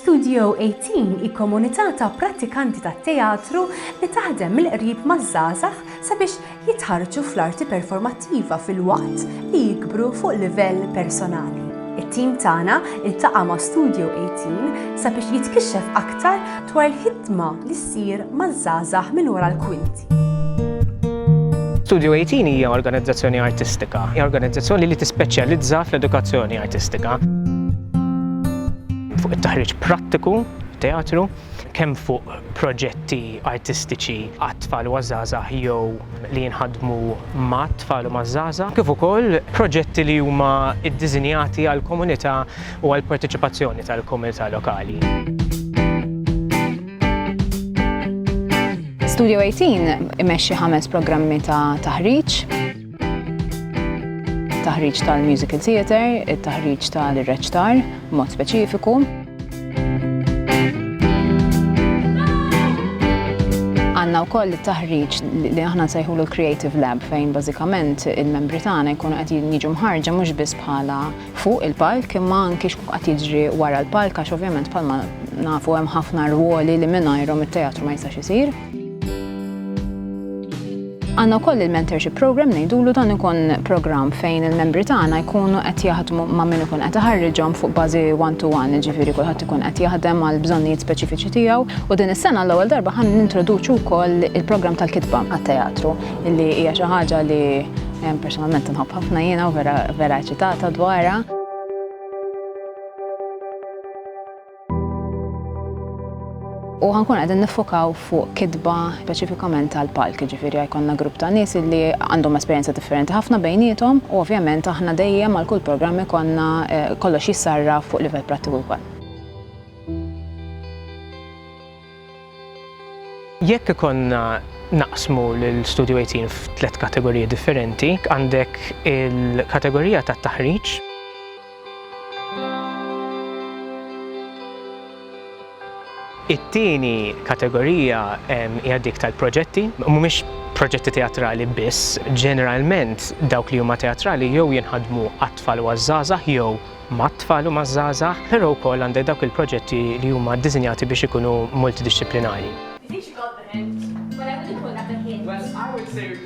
Studio 18 hi komunità ta' prattikanti tat-teatru li taħdem mill-qrib maż-żgħażagħ sabiex jitħarrġu fl-arti performattiva filwaqt li jikbru fuq livell personali. It-tim tagħna ltaqa' ma' Studio 18 sabiex jitkixxef aktar dwar il-ħidma li ssir maż-żgħażagħ minn wara l-kwinti. Studio 18 hija organizzazzjoni artistika. Hija organizzazzjoni li tispeċjalizza fl-edukazzjoni artistika. Fuq it-taħriġ prattiku, teatru, kemm fuq proġetti artistiċi għat-tfal u għaż-żgħażagħ jew li jinħadmu mat-tfal u maż-żgħażagħ, kif ukoll proġetti li huma ddisinjati għall-komunità u għall-parteċipazzjoni tal-komunità lokali. Studio 18 imexxi ħames programmi ta' taħriġ. Taħriġ tal-musical theater, it-taħriġ tal-reċtar, mod speċifiku. Għanna u koll taħriġ li aħna nsejħu l-Creative Lab fejn bażikament il-membri tagħna jkunu qed jiġu mħarġa mhux biss bħala fuq il-palk imma anki x'kun qed jiġri wara l-palk għax ovvjament bħalma nafu hemm ħafna rwoli li mingħajrhom it-teatru ma jistax isir. Għanna koll il-mentorship program ngħidulu dan ikun program fejn il-membri tagħna jkunu qed jaħdmu ma' min ikun qed iħarriġhom fuq bażi one to one, ġifieri kulħadd ikun qed jaħdem għal bżonnijiet speċifiċi tiegħu u din is-sena l-ewwel darba ħan nintroduċu wkoll il-programm tal-kitba għat-teatru. Illi hija xi ħaġa li personalment nħobb ħafna jiena u vera vera ċitata dwarha. U ħankun għedin nifokaw fuq kitba speċifikament tal-palk, ġifiri għajkonna grupp ta' nis li għandhom esperienza differenti ħafna bejnietom u ovvjament aħna dejjem għal kull programmi konna eh, kollox jissarra fuq livell prattiku kwan. Jekk ikollna naqsmu lil Studju 18 f'tliet kategoriji differenti, għandek il-kategorija tat-taħriġ, it-tieni kategorija hija dik tal-proġetti, mhumiex proġetti teatrali biss, ġeneralment dawk li huma teatrali jew jinħadmu għat-tfal u għaż-żgħażagħ jew mat-tfal u maż-żgħażagħ, però wkoll għandek dawk il-proġetti li huma ddisinjati biex ikunu multidixxiplinari.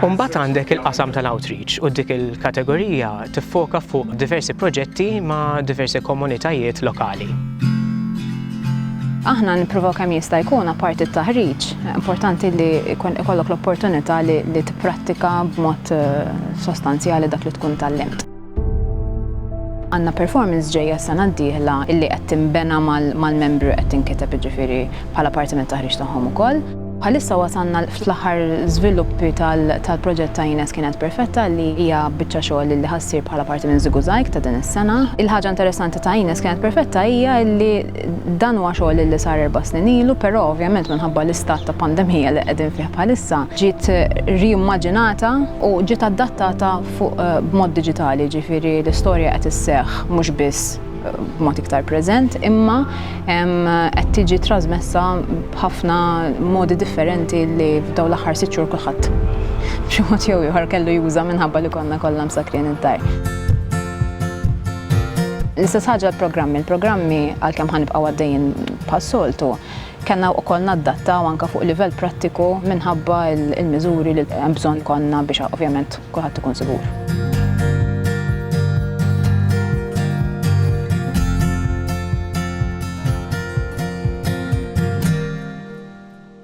U mbagħad għandek il-qasam tal-outreach u dik il-kategorija tiffoka fuq diversi proġetti ma' diversi komunitajiet lokali. Aħna nippruvaw kemm jista' jkun apparti t-taħriġ, importanti li jkollok l-opportunità li tipprattika b'mod eh, sostanzjali dak li tkun tallimt. Għandna performance ġejja s-sena d-dieħla illi qed tinbena mal-membri u qed tinkiteb jiġifieri bħala parti mit-taħriġ tagħhom ukoll. Bħalissa wasalna fl-aħħar żviluppi tal-proġett ta' Ines Kienet Perfetta li hija biċċa xogħol illi ħa ssir bħala parti minn Ziguzaig ta' din is-sena. Il-ħaġa interessanti ta' Ines Kienet Perfetta hija illi dan huwa xogħol illi sar erba' snin ilu però ovvjament minħabba l-istat ta' pandemija li qegħdin fih bħalissa ġiet ri-immaġinata u ġiet adattata fuq b'mod diġitali, jiġifieri l-istorja qed isseħħ mhux biss b'mod iktar preżent, imma qed tiġi trasmessa b'ħafna modi differenti li f'dawn l-aħħar sitt xhur kulħadd b'xi mod jew ieħor kellu juża minħabba li konna kollha msakrin id-dar. L-istess ħaġa l-programmi. Il-programmi għalkemm ħa nibqgħu għaddejjin bħas-soltu, Kellna wkoll naddattaw anke fuq livell prattiku minħabba l-miżuri li hemm bżonn ikollna biex ovvjament kulħadd ikun sigur.